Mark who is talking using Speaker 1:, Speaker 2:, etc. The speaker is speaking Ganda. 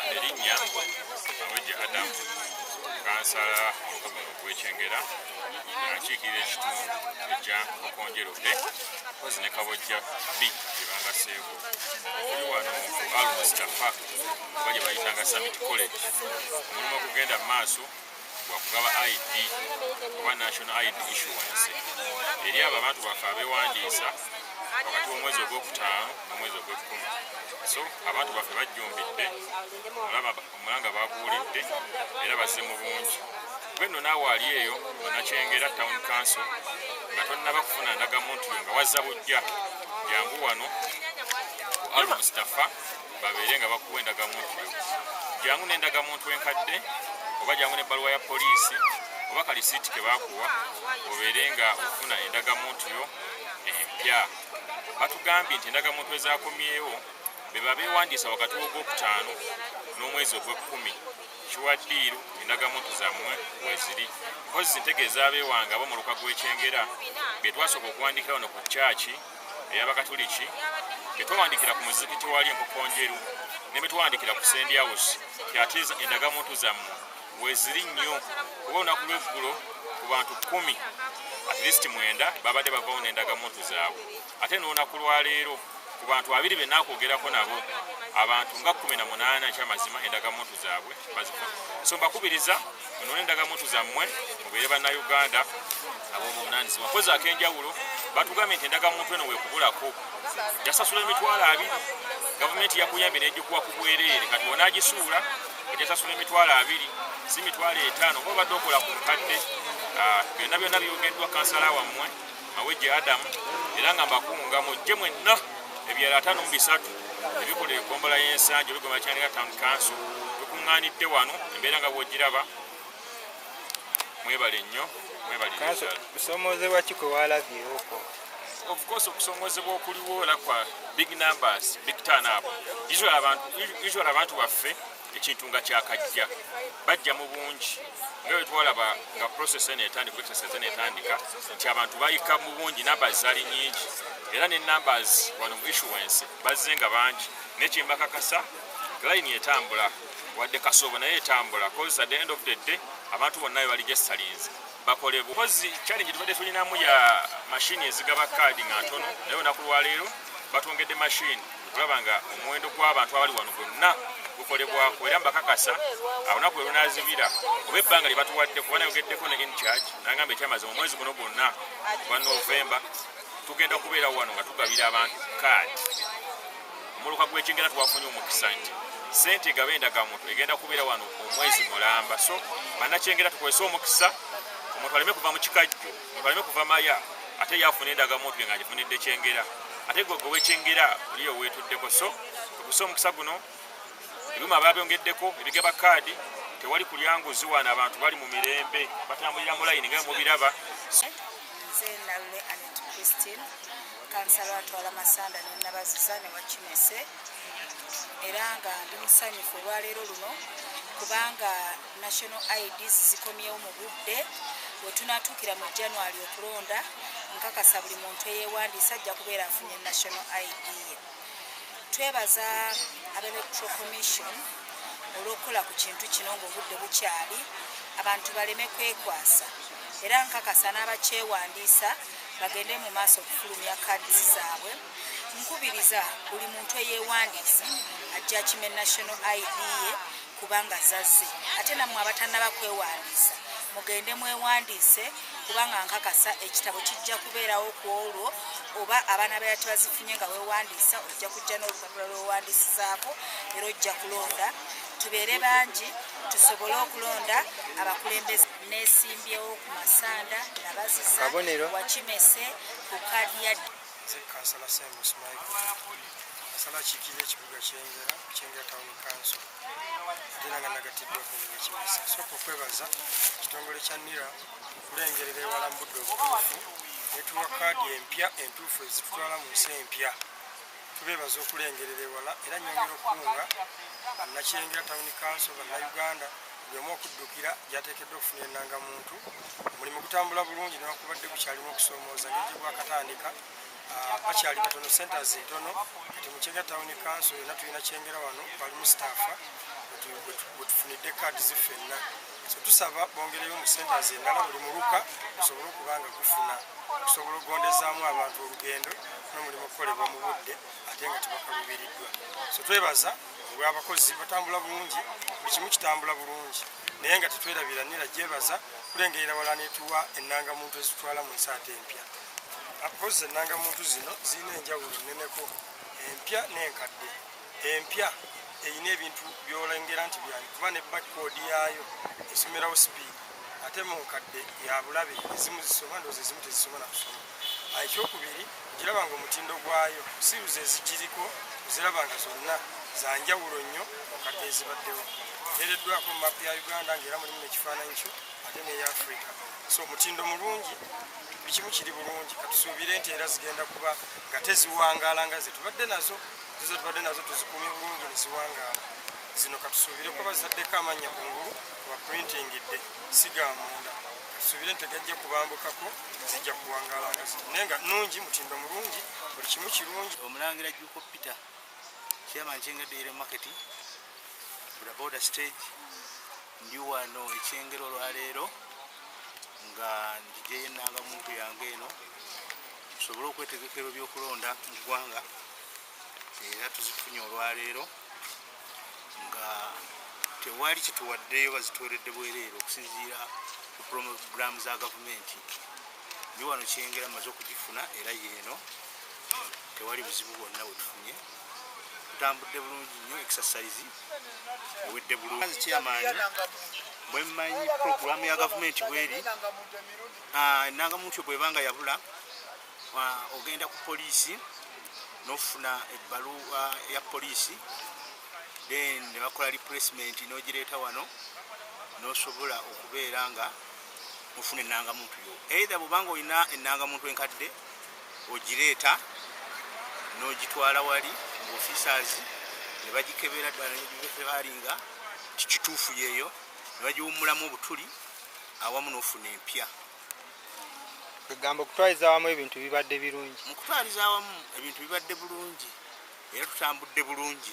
Speaker 1: erinnya awejja adamu kansala mukomero gwekyengera akiikirira ekitundu ekya okonjerude kozi ne kabojja b gyebangaseeko oli wano ku al mustafa oba gye bayitanga summit college omulimu okugenda mu maaso gwakugaba id oba national id issuance eri abo abantu baffe abewandiisa wakati womwezi ogwokutaano nomwezi ogwekumi so abantu baffe bajjumbidde olaba omulanga baguwulidde era bazze mu bungi gwenno naawe ali eyo onakyengera town council nga tonnaba kufuna ndagamuntu yo nga wazza bujja jangu wano almustafa babeere nga bakuwa endagamuntu yo jangu n'endagamuntu enkadde oba jangu n'ebbaluwa ya poliisi oba kalisiiti ke bakuwa obeere nga ofuna endagamuntu yo empya batugambye nti endagamuntu ezakomyewo beba bewandiisa wakati w'ogwokutaano n'omwezi ogw'ekkumi kiwaddiiru endagamuntu zammwe weziri kozi ntegeeza abeewanga abo mu luka gw'ekyengera bye twasooka okuwandikirawo no ku kyaki ey'abakatuliki betwawandikira ku muzikiti wali enkokonjeru ne betwawandikira ku sendi house kyate endagamuntu zammwe weziri nnyo kuba olunaku lweggulo ku bantu kumi at least mwenda babadde bavawo n'endagamuntu zaabwe ate n'olunaku lwaleero ku bantu abiri benakwogerako nabo abantu nga kumi na munaana ekyamazima endagamuntu zaabwe bazifuna so mbakubiriza munone endagamuntu zammwe mubeere bannayuganda abobuvunanyizibwa kozi akenjawulo batugambye nti endagamuntu eno wekubulako jasasula emitwalo abiri gavumenti yakuyambye negikuwa ku bwereere kati onagisuula ejasasula emitwalo abiri si mitwalo etaano oba obadde okola ku nkadde ah, byonna byonna byogeddwa kansala wammwe mawejje adamu era nga mbakunga mujje mwenna ebyalo ataano mu bisatu ebikola ekombola y'ensangi olugoma kyanika town council tukuŋŋaanidde wano embeera nga bwogiraba mwebale nnyo mwebalesomoozebwa ki
Speaker 2: kwe walabyewoko of course
Speaker 1: okusomozebwa okuliwoola kwa big numbers big turn up usual abantu baffe ekintu nga kyakajja bajja mu bungi nga bwetwalaba nga process eno etandika exercise eno etandika nti abantu bayika mu bungi numbers zali nyingi era ne numbers wano mu issuance bazze nga bangi nekyembakakasa line etambula wadde kasoobo naye etambula cause at the end of the day abantu bonna bali gyesalinze bakolebwa kozi challenge tubadde tulinamu ya mashini ezigaba kaadi nga ntono naye olunaku lwaleero batwongedde mashini okulaba nga omuwendo gw'abantu abali wano gwonna gukolebwako era mbakakasa alunaku elunazibira oba ebbanga lye batuwadde kuba nayogeddeko ne incharge nangamba ekyamazi mu mwezi guno gwonna ogwa novemba tugenda kubeera wano nga tugabira abantu kaadi muluka gwekingera twafunye omukisa nti sente egaba endagamuntu egenda kubeera wano omwezi mulamba so banakyengera tukozese omukisa omuntu aleme kuva mu kikajjo omuntu aleme kuva maya ate yafuna endagamuntu nga agifunidde kyengera ate gwe gwe wekyengera oliyo wetuddeko so tukozese omukisa guno ebyuma babyongeddeko ebigaba kaadi tewali kulya nguzi wano abantu bali mu mirembe batambulira mu layini nga mubiraba
Speaker 3: kansala atwala masanda ne nabaziza ne wakinese era nga ndi musanyufu olwaleero luno kubanga national ids zikomyewo mu budde wetunatuukira mu january okulonda nkakasa buli muntu eyewandiisa ajja kubeera afunye national id ye twebaza aba electro commission olwokukola ku kintu kino ngaobudde bukyali abantu baleme kwekwasa era nkakasa n'abakyewandiisa bagende mu maaso okufulumya kaadi zaabwe nkubiriza buli muntu eyewandiisa ajja kime national id ye kubanga zazze ate nammwe abatanaba kwewandiisa mugende mwewandiise kubanga nkakasa ekitabo kijja kubeerawo ku olwo oba abaana bera tebazifunye nga wewandiisa ojja kujja n'olupapula lwewandiisizaako era ojja kulonda tubeere bangi tusobole okulonda abakulembeze nesimbyewo ku masanda nabaziza wakimese ku kaadi ya nze kansala
Speaker 2: semus michael kansala akiikirira ekibuga kyengera kyengera town council era nga nagatiddwa ku wakimese sooka okwebaza ekitongole kya nira okulengerera ewala mu budde obutuufu netuwa kaadi empya entuufu ezitutwala mu nsi empya tubeebaza okulengerera ewala era nyongera okukunga bannakyengera tawuni kanso bannauganda bwemu okuddukira gyateekeddwa okufuna enanga muntu omulimu gutambula bulungi newakubadde gukyalimu okusoomooza ngeri gwakatandika ah, bakyali batono centers ntono kati mukyengera tawuni kanso yonna tulina kyengera wano balimu staffa bwetufunidde kaadi ziffenna tusaba bongereyo mu centers endala buli muluka gusobole okuba nga gufuna okusobola okugondezaamu abantu olugendo n'omulimu okukolebwa mu budde ate nga tebakaluubiriddwa so twebaza olw'abakozi batambula bulungi buli kimu kitambula bulungi naye nga tetwerabira nira gyebaza kulengerera wala netuwa ennanga muntu ezitwala mu nsi ate empya akozi ennanga muntu zino zirina enjawulo nneneko empya n'enkadde empya erina ebintu byolengera nti byayo kuba ne bakkoodi yaayo esomerawo sipiidi ate mu nkadde ya bulabe ezimu zisoma ndoozi ezimu tezisobola kusoma ah, ekyokubiri ogiraba nga omutindo gwayo siruzi ezigiriko oziraba nga zonna za njawulo nnyo mu nkadde ezibaddewo ereddwako mu mapu ya uganda ngaera mulimu nekifaananyi kyo ate neya afrika so omutindo mulungi bikimu kiri bulungi katusuubire nti era zigenda kuba nga teziwangaala nga zetubadde nazo zizo tubadde nazo tuzikumye bulungi neziwangaala zino katusuubire kuba bazizaddeko amannya ku ngulu waprintingidde siga munda katusuubire nti tegajja kubambukako zijja kuwangaala nga zino naye nga nungi mutindo mulungi buli kimu kirungi omulangira juko peter
Speaker 4: chairman kyengedde yere market bodaboda stage ndi wano ekyengero olwaleero nga ndijeyo enanga muntu yange eno tusobole okwetegekero byokulonda mu ggwanga era tuzifunye olwaleero nga tewali kituwaddeyo bazitweredde bwereere okusinziira ku pulogulaamu za gavumenti ni wano kyengera maze okugifuna era yeeno tewali buzibu bwonna bwetufunye tutambudde bulungi nnyo exercise ewedde bulungi kyamaanyi bwemmanyi pulogulaamu ya gavumenti bweri ah, enangamuntu bwebanga yabula ogenda ku poliisi nofuna ebbaluwa ya poliisi then nebakola replacement nogireeta wano nosobola okubeera nga ofuna enangamuntu yo eitha bwobanga olina enangamuntu enkadde ogireeta nogitwala wali mu officers nebagikebera ddala nebalinga kikituufu yeeyo nebagiwumulamu obutuli awamu nofuna empya
Speaker 5: kwegamba okutwaliza awamu ebintu bibadde birungi mu
Speaker 4: kutwaliza awamu
Speaker 5: ebintu
Speaker 4: bibadde bulungi era
Speaker 5: tutambudde
Speaker 4: bulungi